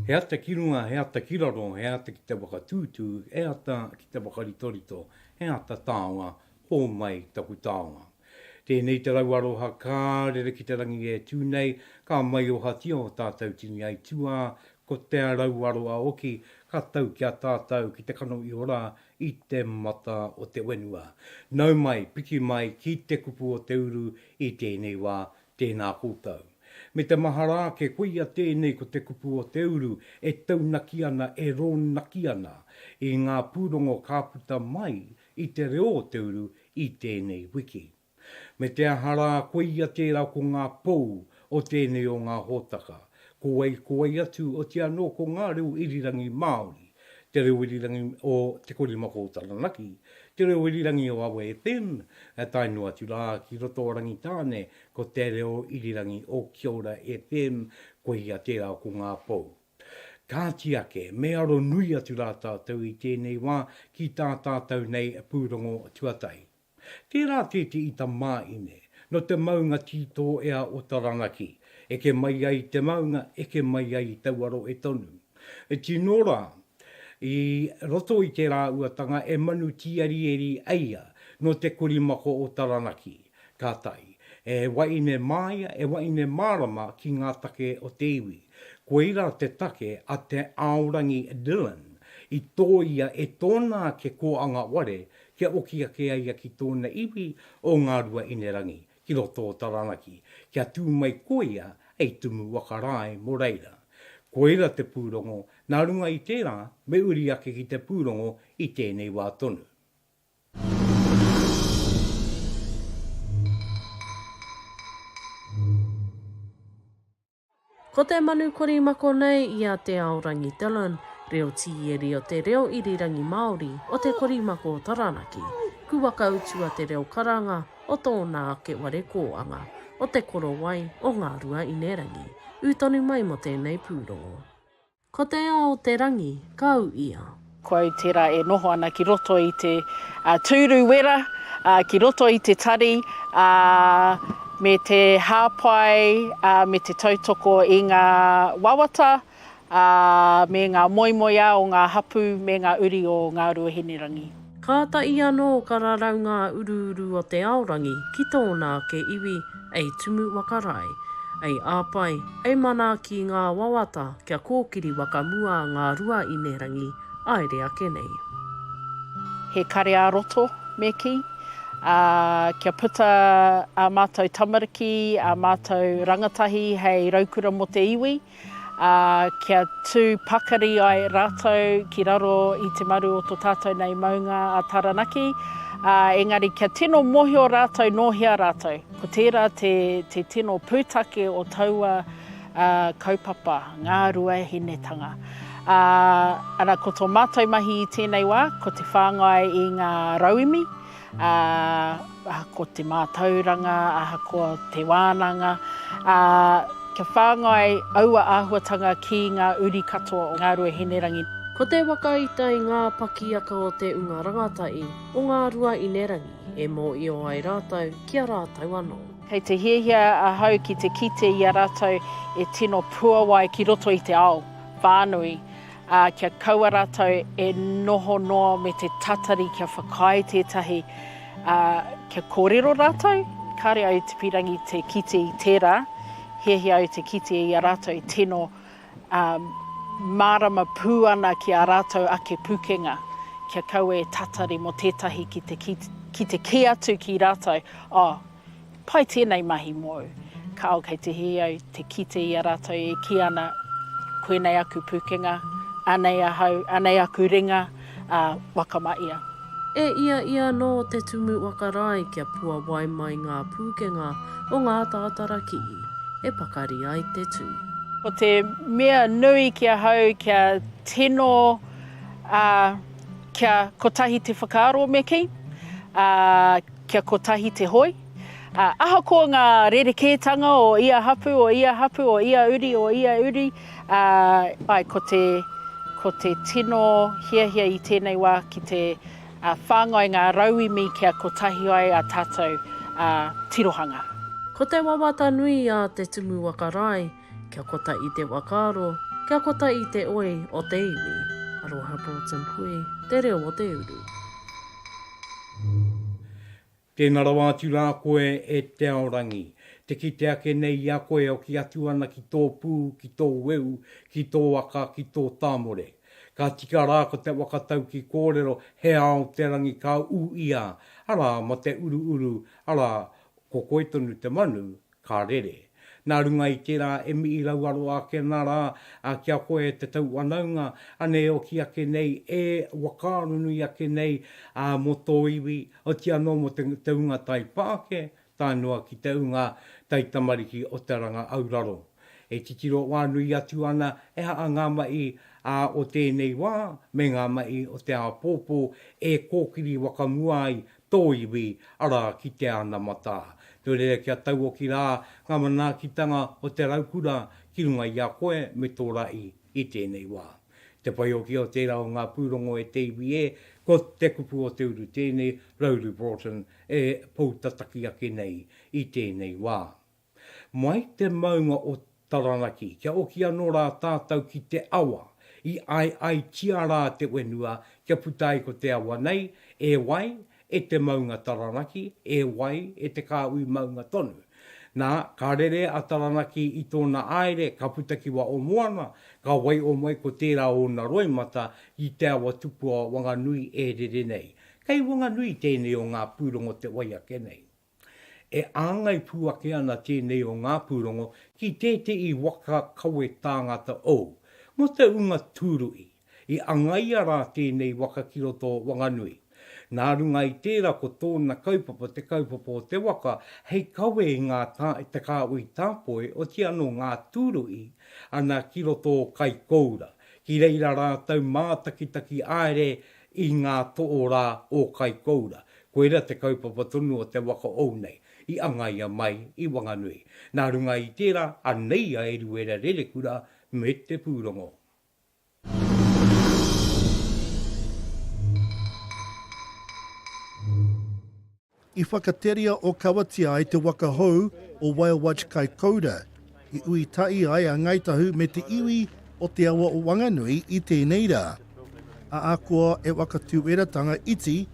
He ata ki runga, he ata ki raro, he ata ki te whakatūtū, he ata ki te whakaritorito, he ata taonga, hōmai taku taonga. Tēnei te rau aroha ka rere ki te rangi e tū nei, ka maiohatia o tātou tini aituā, ko te rau aroa oki ka tau ki a tātou ki te kano i ora, i te mata o te whenua. Nau mai, piki mai ki te kupu o te uru i tēnei wā, tēnā koutou. Me te mahara ake, koia tēnei ko te kupu o te uru e taunaki ana, e rōnaki ana i ngā pūrongo ka puta mai i te reo o te uru i tēnei wiki. Me te aha rā, koia tērā ko ngā pou o tēnei o ngā hōtaka. Ko wai, ko wai atu, otirā anō ko ngā reo irirangi Māori, te reo irirangi o Te Korimako o Taranaki, te reo irirangi o Awa FM, tae noa atu rā ki roto o Rangitāne, ko te reo irirangi o Kia Ora FM, koia tērā ko ngā pou. Kāti ake, me aro nui atu rā tātou i tēnei wā ki tā tātou nei pūrongo tuatahi. Tērā kē te ita mā ine. No te maunga tītō ea o Taranaki. Eke mai ai te maunga, eke mai ai taua rohe tonu. E tino rā, i roto i te rāuatanga e manu tīarieri eia no te korimako o Taranaki. Ka tae. E waine māia, e waine mārama ki ngā take o te iwi. Koira te take a Te Aorangi Dillon i tōia e tōna ake kōanga ware kia oki ake ai ia ki tōna iwi o Ngāruahinerangi ki roto o Taranaki, kia tū mai koia hei tumu waka rae mō reira. Koira te pūrongo, nā runga i tērā, me uri ake ki te pūrongo i tēnei wā tonu. Ko te manu korimako nei i a Te Aorangi Dillon, reo tīeri o te reo irirangi Māori o te korimako o Taranaki, ku waka utu a te reo karanga o tōna ake ware kōanga, o Te Korowai o Ngāruaīnerangi, ū tonu mai mō tēnei pūrongo. Ko te ao te rangi, kau ia. Ko au tērā e noho ana ki roto i te tūru wera, ki roto i te tari, ā, me te hāpai, ā, me te tautoko i ngā wawata, ā, me ngā moemoeā o ngā hapū me ngā uri o Ngāruahinerangi. Kāta i anō ka rarau ngā uruuru o te aorangi ki tōna ake iwi, ei tumu waka rae, ei āpae, ei manaaki ngā wawata kia kōkiri waka mua ngā rua inerangi aere ake nei. He kare-ā-roto me kī, ā, kia puta ā mātou tamariki, ā mātou rangatahi hei raukura mō te iwi, ā, kia tū pakari ai rātou ki raro i te maru o tō tātou nei maunga a Taranaki, ā, engari kia tino mōhio rātou nō hea rātou. Ko tērā te, te tino pūtake o taua ā, kaupapa, ngā ruahinetanga. Ā, ana ko tō mātou mahi i tēnei wā, ko te whāngai i ngā rauemi, ā, ahakoa te mātauranga, ahakoa te wānanga, ā, kia whāngai aua āhuatanga ki ngā uri katoa o Ngāruā Hinerangi. Ko te waka i tae i ngā pakiaka o te Unga Rangatahi o Ngāruā Inerangi e mōio ai rātou ki a rātou anō. Kei te hiahia ahau ki te kite i a rātou e tino puawai ki roto i te ao whānui, ā, kia kaua rātou e noho noa me te tatari kia whakaae tētahi, ā, kia kōrero rātou, kāre au te pīrangi te kite i tērā, hiahia au te kite i a rātou e tino, ā, mārama pū ana ki ā rātou ake pūkenga, kia kaua e tatari mō tētahi ki te, ki te kī atu ki rātou, Oh, Pai tēnei mahi mōu. Kāo kei te hē au te kite i a rātou e kī ana, Koinei aku pūkenga, anei ahau, anei aku ringa, ā, wakama ia. E ia ia anō te tumu wakarae kia puawai mai ngā pūkenga o ngā tātara kihi e pakari ai te tū. Ko te mea nui ki ahau kia tino, ā, kia kotahi te whakaaro me kī, ā, Kia kotahi te hoi, ā, ahakoa ngā rerekētanga o ia hapū, o ia hapū, o ia uri, o ia uri, ā, āe, ko te, ko te tino hiahia i tēnei wā ki te whāngai ngā rauemi kia kotahi ai ā tātou tirohanga. Ko te wawata nui a Te Tumu Waka Rae, Kia kota i te wakaaro, kia kota i te oi o te iwi. Aroha Broughton Pui, Te Reo o te Uru. Tēnā rawa atu rā koe e Te Aorangi. Te kite ake nei i a koe e oki atu ana ki tō pū, ki tō weu, ki tō aka, ki tō tāmore. Ka tika rā ko te waka tauki kōrero he ao te rangi ka ū ia, arā ma te uruuru, arā, ko koe tonu te manu, Ka rere. Nā runga i tērā e mihi rauaro ake ana rā ki a koe e te tauwhanaunga, anei e oti ake nei, e whakaaro nui ake nei mō tō iwi, oti anō mō te ūnga taipāke, tae noa ki te ūnga taitamariki o te ranga auraro. E titiro whānui atu ana e aha ngā mahi o tēnei wā me ngā mahi o te āpōpō e kōkiri whakamua ai tō iwi, arā, ki te anamata. Nō reira kia tauoki rā ngā manaakitanga o te raukura ki runga i a koe me tō rahi i tēnei wā. Te whaioki o tērā o ngā pūrongo e te iwi e, ko Te Kupu o Te Uru tēnei, Rowley Broughton, e poutataki ake nei i tēnei wā. Mai te maunga o Taranaki kia oki anō rā tātau ki te awa i aiaitia rā te whenua kia puta ai ko te awa nei, e wai e te maunga Taranaki, e wai e te kāhui maunga tonu. Nā, ka rere a Taranaki i tōna āere, ka puta ki wa o moana, ka waiho mai ko tērā ōna roimata i te awa tupua Wanganui e rere nei. Kei Wanganui tēnei o ngā pūrongo te wai ake nei. E āngai pū ake ana tēnei o ngā pūrongo ki tētehi waka kawe tāngata o. Mō te ūnga tūruhi, i angaia rā tēnei waka ki roto o Wanganui. Nā runga i tērā ko tōna kaupapa te kaupapa o te waka hei kawe i ngā te kāhui tāpoi oti anō ngā tūruhi ana ki roto o Kaikoura, ki reira rātou mātakitaki āere i ngā toorā o Kaikoura. Koira te kaupapa tonu o te waka ou nei, i angaia mai i Wanganui. Nā runga i tērā, anei a Eruera Rerekura me te pūrongo. I whakateria Okawatia ai te waka hou o Waiowaj kai Koura. I ui tahi ai a Ngāi Tahu me te iwi o te awa o Wanganui i tēnei rā. Ahakoa e whakatūweratanga iti,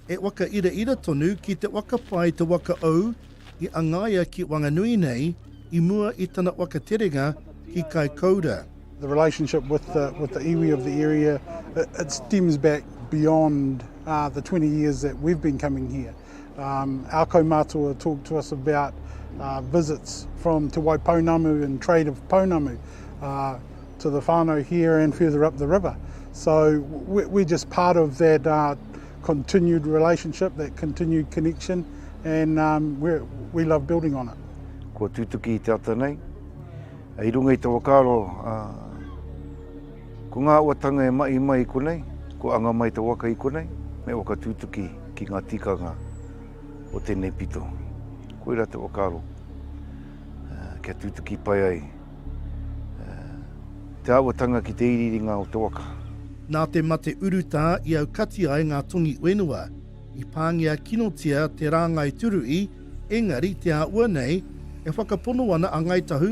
e whakairaira tonu ki te whakapae te waka ou i angaia ki Wanganui nei i mua i tana whakaterenga ki Kaikoura. The relationship with the with the iwi of the area it stems back beyond the twenty years that we've been coming here. Um, our kaumātua talk to us about uh, visits from Te Waipounamu and trade of Pounamu uh, to the whānau here and further up the river. So we, we're just part of that uh, continued relationship, that continued connection, and um, we we love building on it. Kua tūtuki i te ata nei. I runga i te wakaaro, uh, Ko ngā uatanga e mahi mai i konei, kua anga mai te waka i konei, me whakatutuki ki ngā tikanga o tēnei pito. Koirā te whakaaro, kia tutuki pai ai te āhuatanga ki te iriiringa o te waka. Nā te mate urutā i aukati ai ngā tongi whenua, i pāngia kinotia te rāngai turuī, engari te āhua nei, e whakapono ana a Ngāi Tahu,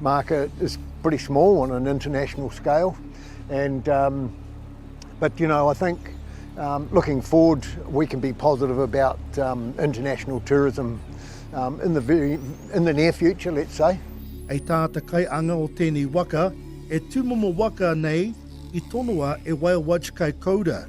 market is pretty small on an international scale and um, but you know I think um, looking forward we can be positive about um, international tourism um, in the very in the near future let's say Ei tā te kaianga o tēnei waka e tūmomo waka nei i tonoa e Whale Watch Kaikoura.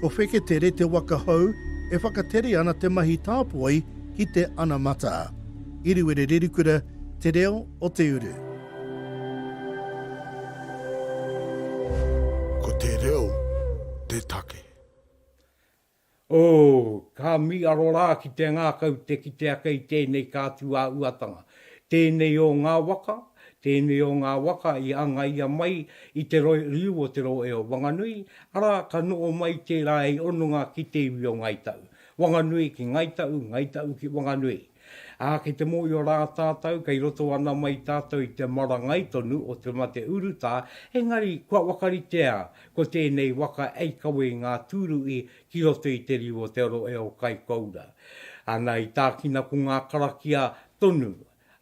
Ko Wheketere te waka hou e whakatere ana te mahi tāpoi ki te anamata. Iriwere Rerikura te reo o te uru. Ko te reo te take. Oh, ka miaro rā ki te ngākau te kite ake i tēnei kātū ā-uatanga. Tēnei o ngā waka, tēnei o ngā waka i angaia mai i te roi riu o Te Rohe o Wanganui, arā, ka noho mai tērā hei hononga ki te iwi o Ngāi Tau. Wanganui ki Ngāi Tau, Ngāi Tau ki Wanganui. Ā, kei te mōhio rā tātou, kei roto ana mai tātou i te marangai tonu o te mate urutā, engari kua whakaritea ko tēnei waka hei kawe i ngā tūruhi ki roto i te riu o te oro e o Kaikoura. Ana i tākina ko ngā karakia tonu,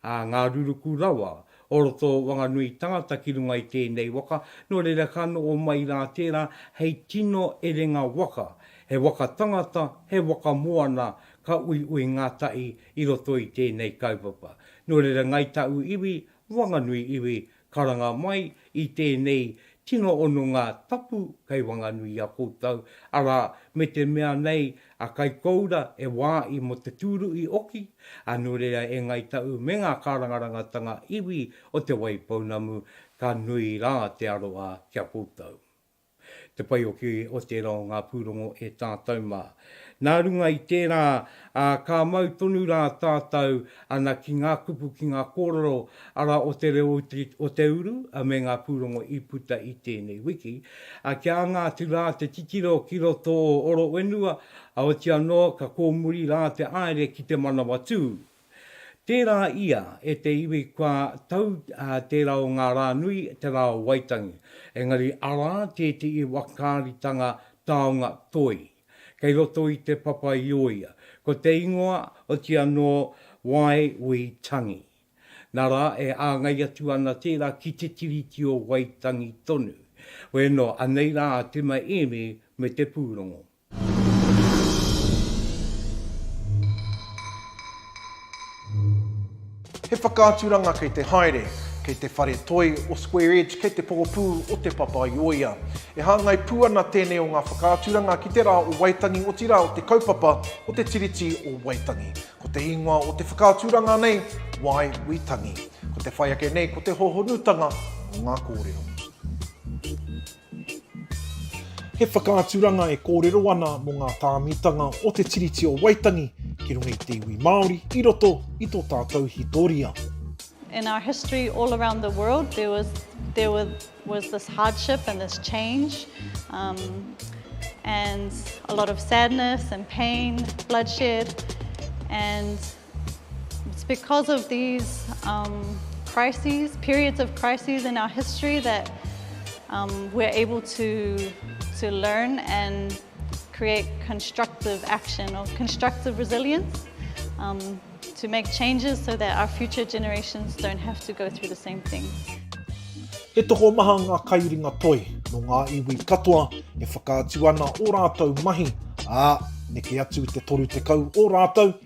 ā, ngā ruruku rawa, o roto o Wanganui tangata ki runga i tēnei waka, nō reira ka noho mai rā tērā hei tino erenga waka, he waka tangata, he waka moana ka uiui ngātahi i roto i tēnei kaupapa. Nō reira Ngāi Tāu iwi, Wanganui iwi, Karanga mai i tēnei tino hononga tapu kei Wanganui i a koutou, arā, me te mea nei a Kaikoura e wā i mō te tūruhi oki, ā, nō reira e Ngāi Tahu me ngā kārangarangatanga iwi o Te Waipounamu, ka nui rā te aroha ki a koutou. te pai hoki o tērā o ngā pūrongo e tātou mā. Nā runga i tērā, ka mau tonu rā tātou ana ki ngā kupu, ki ngā kōrero, arā, o te reo o te uru me ngā pūrongo i puta i tēnei wiki. Kia anga atu rā te titiro ki roto o Orowhenua, otianō ka kōmuri rā te haere ki te manawa tū. Tērā ia e te iwi kua tau tērā o ngā rā nui te rā o Waitangi, engari arā tētehi wakaaritanga taonga toi kei roto i te papa i o ia, ko te ingoa oti anō Wai Wi Tangi. Na rā e āngai atu ana tērā ki te Tiriti o Waitangi tonu. Weno, anei rā a Tima Emi me te pūrongo. He whakaaturanga kei te haere, kei te whare toi o Square Edge, kei te pokapū o Te Papaioea. E hāngai pū ana tēnei o ngā whakaaturanga ki te rā o Waitangi, otirā o te kaupapa o te Tiriti o Waitangi. Ko te ingoa o te whakaaturanga nei, Why We Tangi. Ko te whai ake nei ko te hōhonutanga o ngā kōrero. He whakaaturanga e kōrero ana mō ngā tāmitanga o Te Tiriti o Waitangi ki runga i te iwi Māori i roto i tō tātou hitoria. In our history all around the world there was, there was, was this hardship and this change um, and a lot of sadness and pain, bloodshed and It's because of these um, crises, periods of crises in our history that um, we're able to, to learn and create constructive action or constructive resilience um, to make changes so that our future generations don't have to go through the same thing. He toko maha ngā kaiuringa toi no ngā iwi katoa e whakaatu ana o rātou mahi, ā, neke atu i te toru tekau o rātou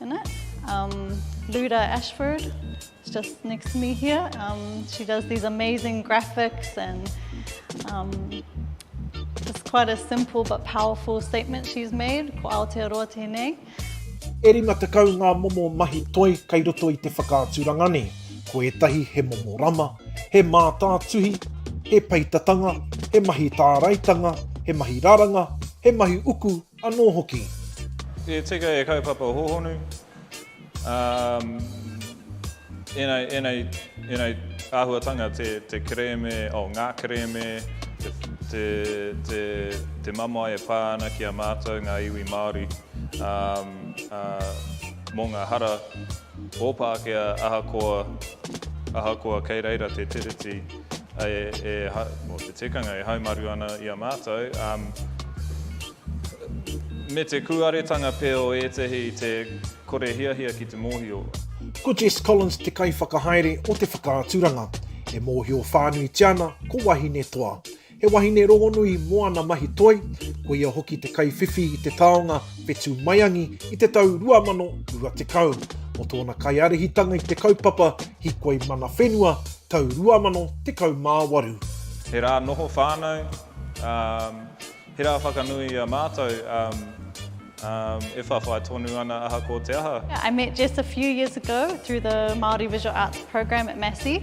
In it. Um, Luda Ashford is just next to me here. Um, she does these amazing graphics and um, just quite a simple but powerful statement she's made. Ko Aotearoa tēnei. E rima tekau ngā momo mahi toi kei roto i te whakaaturanga nei. Ko ētahi he momo rama, he mātātuhi, he peitatanga, he mahi tāraitanga, he mahi raranga, he mahi uku, Anō hoki. E tika e kaupapa hōhonu, ā, ēnei, ēnei, ēnei āhuatanga, te, te kerēme, oh, ngā kerēme, te, te, te, te mamae e pā ana ki a mātou ngā iwi Māori, ā, ā, mō ngā hara o Pākehā ahakoa, ahakoa kei reira te Tiriti. Mō te tikanga e haumaru ana i a mātou, me te kūaretanga pea o ētahi i te kore hiahia ki te mōhio. Ko Jess Collins te kaiwhakahaere o te whakaaturanga, e mōhio whānuitia ana ko Wahine Toa. He wahine rongonui mō ana mahi toi, ko ia hoki te kaiwhiwhi i te taonga whetū maiangi i te tau 2020. Mō tōna kaiārahitanga i te kaupapa Hikoi Mana Whenua tau 2018. He rā noho whānau, he rā whakanui i a mātou e whawhai tonu ana aha ko te aha. I met Jess a few years ago through the Māori Visual Arts program at Massey.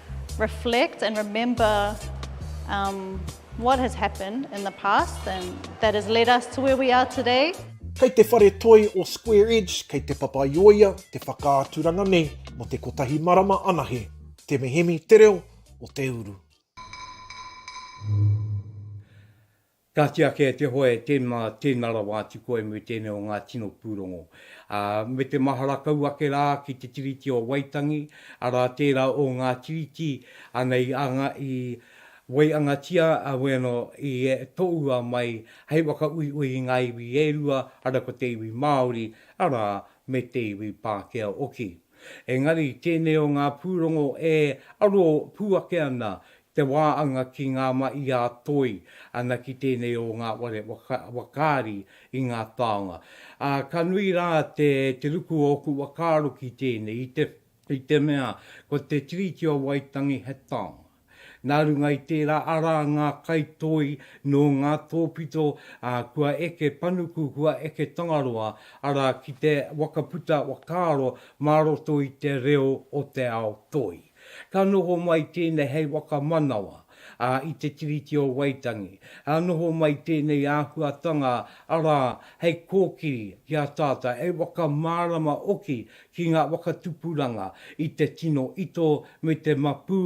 reflect and remember um, what has happened in the past and that has led us to where we are today. Kei te whare toi o Square Edge, kei te papaioia te whakaaturanga nei mo te kotahi marama anahe. Te mehemi te reo o te uru. Ka tiaki e te hoe, Tēnā, tēnā rawa atu koe me tēnei o ngā tino pūrongo. Ā, me te mahara kau ake rā ki te Tiriti o Waitangi, arā tērā o ngā tiriti ana i anga, i waiangatia a Wēno i tohua mai hei whakauiui i ngā iwi e rua, arā ko te iwi Māori, arā, me te iwi Pākehā hoki. Engari, tēnei o ngā pūrongo e aro pū ake ana te wā anga ki ngā ma i a toi ana ki tēnei o ngā ware wakaari i ngā taonga. Ā, ka nui rā te te ruku o ōku whakaaro ki tēnei, i te, i te mea, ko te Tiriti o Waitangi he taonga. Nā runga i tērā, arā ngā kai toi nō ngā tōpito, ā, kua eke panuku, kua eke tangaroa, arā, ki te whakaputa whakaaro mā roto i te reo o te ao toi. Ka noho mai tēnei hei whakamanawa i te Tiriti o Waitangi. Ka noho mai tēnei āhuatanga arā hei kōkiri ki a tātou, hei whakamārama hoki ki ngā whakatupuranga i te tino ito me te mapū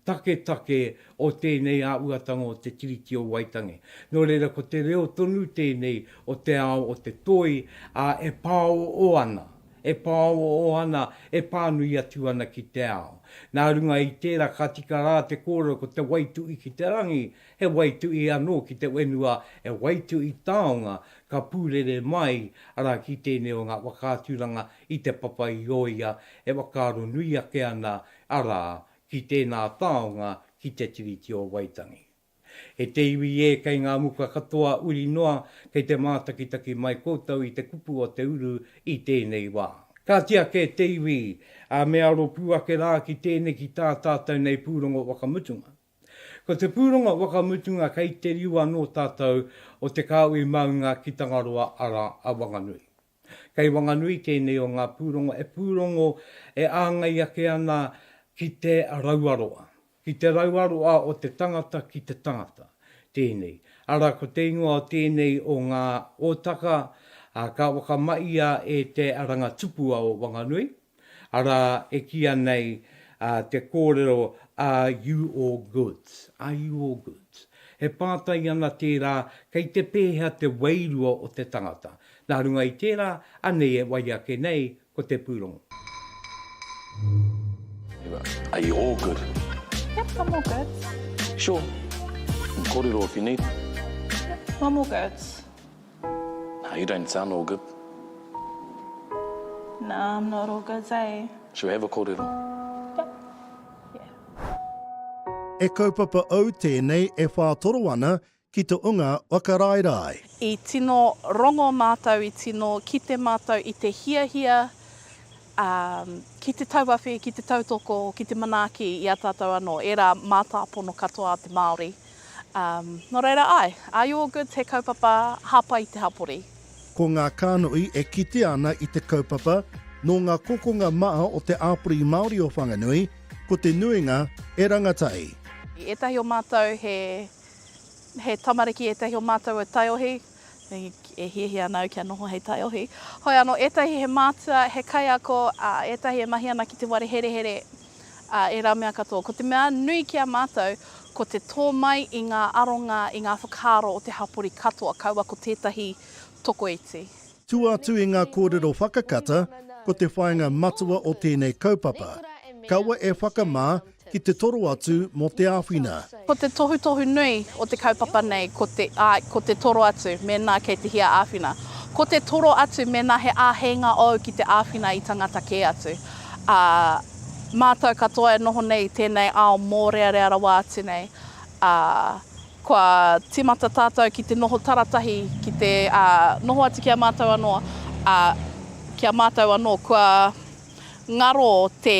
taketake o tēnei āhuatanga o te Tiriti o Waitangi. Nō reira ko te reo tonu tēnei o te ao o te toi e pāoō ana e pāoao ana, e pānui atu ana ki te ao. Nā runga i tērā ka tika rā te kōrero ko te waitu'i ki te rangi, he waitu'i anō ki te whenua, he waitu'i taonga ka pūrere mai, arā, ki tēnei o ngā whakaaturanga i Te Papa i Oia e whakaaro nui ake ana, arā, ki tēnā taonga ki Te Tiriti o Waitangi. E te iwi e, kei ngā muka katoa uri noa, kei te mātakitaki mai koutou i te kupu o te uru i tēnei wā. Ka tiaki te iwi, ā, me aro pū ake rā ki tēnei ki tā tātou nei pūrongo whakamutunga. Ko te pūrongo whakamutunga kei te riu anō tātou o te kāhui maunga ki Tangaroa arā, a Wanganui. Kei Wanganui tēnei o ngā pūrongo e pūrongo e āngai ake ana ki te rauaroa, ki te rauaroa o te tangata ki te tangata tēnei, arā ko te ingoa o tēnei o ngā Ōtaka, ā, ka whakamahia e te Rangatupua o Wanganui, Arā, e kīia nei te kōrero Are you all goods? Are you all goods? E pātai ana tērā kei te pēhea te wairua o te tangata. Nā runga i tērā, anei e wai ake nei ko te pūrongo. Are you all good? Yep, I'm all goods. Sure. Kōrero if you need. Yep, I'm all goods. Now you don't sound all good. Nah, I'm not all good, hey. Should we have a kōrero? Yep. Yeah. E kaupapa au tēnei e whātoro ana ki te unga whakaraerae. I tino rongo mātou, i tino kite mātou i te hiahia ki te tauawhi, ki te tautoko, ki te manaaki i a tātou anō, ērā mātāpono katoa a te Māori. Um, no reira ai, are you all good te kaupapa hapa i te hapori? Ko ngā kānoi e kitea ana i te kaupapa nō ngā kokonga maha o te āpori Māori o Whanganui, ko te nuinga e rangatahi. Ētahi o mātou he, he tamariki, ētahi o mātou e taiohi, E hiahia ana au kia noho hei taiohi. Hoi anō, ētahi he mātua, he kaiako, ā, ētahi e mahi ana ki te ware herehere, ā, ērā mea katoa. Ko te mea nui ki a mātou, ko te tō mai i ngā aronga, i ngā whakaaro o te hapori katoa, kaua ko tētahi tokoiti. Tua atu i ngā kōrero whakakata, ko te whāinga matua o tēnei kaupapa, kaua e whakamā ki te toro atu mō te āwhina. Ko te tohutohu nui o te kaupapa nei ko te, āe, ko te toro atu mēnā kei te hia āwhina. Ko te toro atu mēnā he āheinga ōu ki te āwhina i tangata kē atu. Ā, mātou katoa e noho nei i tēnei ao mōrearea rawa atu nei, ā, kua tīmata tātou ki te noho taratahi, ki te, ā, noho atu ki a mātou anō, ā, ki a mātou anō kua ngaro te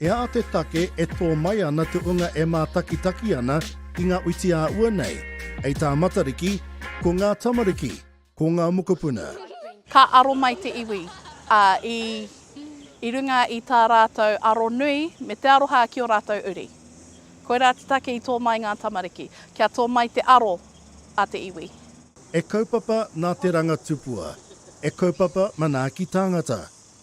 He aha te take e tō mai ana te unga e mātakitaki ana ki ngā uiti ā ua nei? Hei tā Matariki, Ko ngā tamariki, ko ngā mokopuna. Ka aro mai te iwi, ā, i, i runga i tā rātou aro nui me te aroha ki ō rātou uri. Koirā te take i tō mai ngā tamariki, kia tō mai te aro a te iwi. E kaupapa nā te ranga tupua. E kaupapa manaaki tāngata.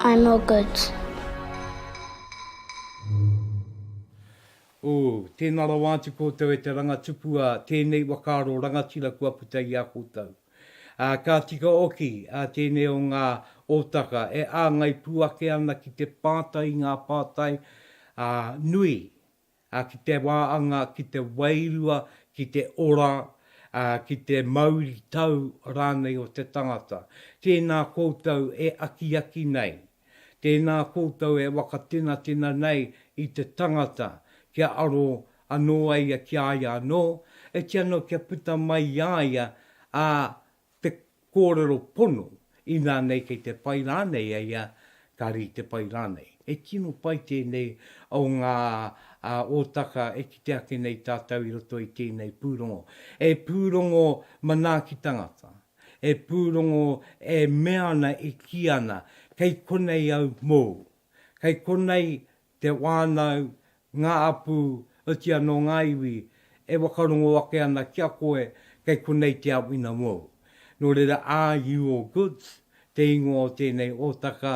I'm all goods. Ooh, tēnā rawa atu koutou e te rangatupu a tēnei wakaaro rangatira kua puta i a koutou. Ā, ka tika oki ā tēnei o ngā ōtaka e āngai pū ake ana ki te pātai i ngā pātai, ā, nui, ā, ki te wāanga, ki te wairua, ki te ora, ā, ki te mauritau rānei o te tangata. Tēnā koutou e akiaki nei, tēnā koutou e wakatenatena nei i te tangata, kia aro anō ai ia ki a ia anō, e tia anō kia puta mai i a ia, ā, te kōrero pono, inā nei kei te pai rānei a ia, ka rite pai rānei. He tino pai tēnei o ngā ōtaka e kite ake nei tātou i roto i tēnei pūrongo. He pūrongo manaaki tangata, he pūrongo e mea ana, e kī ana, kei konei au mōu, kei konei te whānau, ngā apū, oti anō ngā iwi e whakarongo ake ana ki a koe kei konei te āwhina mōu. Nō reira, are you all goods? te ingoa o tēnei ōtaka,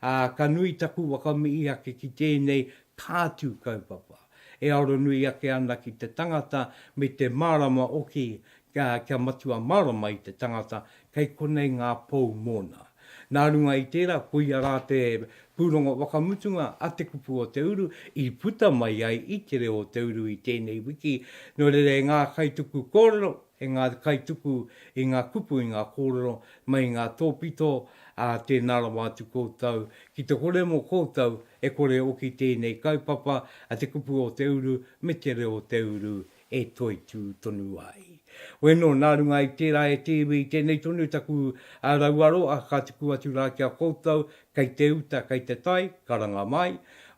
ā, ka nui taku whakamihi ake ki tēnei kātū kaupapa e aro nui ake ana ki te tangata me te mārama oki kia matua mārama i te tangata kei konei ngā pou mōna. Nā runga i tērā, koia rā te pūrongo whakamutunga a Te Kupu o Te Uru i puta mai ai i Te Reo o Te Uru i tēnei wiki. Nō reira e ngā kaituku kōrero, e ngā kaituku i ngā kupu, i ngā kōrero mai i ngā tōpito, ā, tēnā rawa atu koutou ki te kore mō koutou e kore e oki tēnei kaupapa a Te Kupu o Te Uru me Te Reo o Te Uru e toitū tonu ai. Weno, nā runga i tērā e te iwi, tēnei tonu taku rauaroa ka tuku atu rā ki a koutou, kei te uta, kei te tai, karanga mai,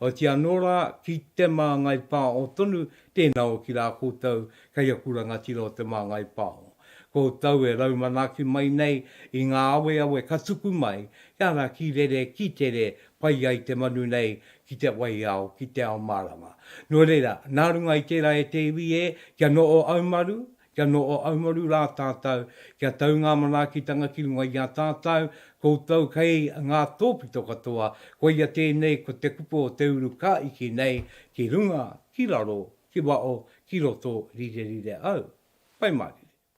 otiia anō rā, ki te māngai pāo tonu, tēnā oki rā koutou, kei aku rangatira o te māngai pāo. Koutou e rau manaaki mai nei i ngā aweawe ka tuku mai, kia raki rere ki tere, pai ai te manu nei ki te waiao, ki te ao mārama. Nō reira, nā runga i tērā e te iwi e, kia noho aumaru, kia noho aumaru rā tātou, kia tau ngā manaakitanga ki runga i a tātou, koutou kei ngā tōpito katoa, koia tēnei ko te kupu o te urukā iki nei, ki runga, ki raro, ki waho, ki roto, rire rire au. Whai mārire.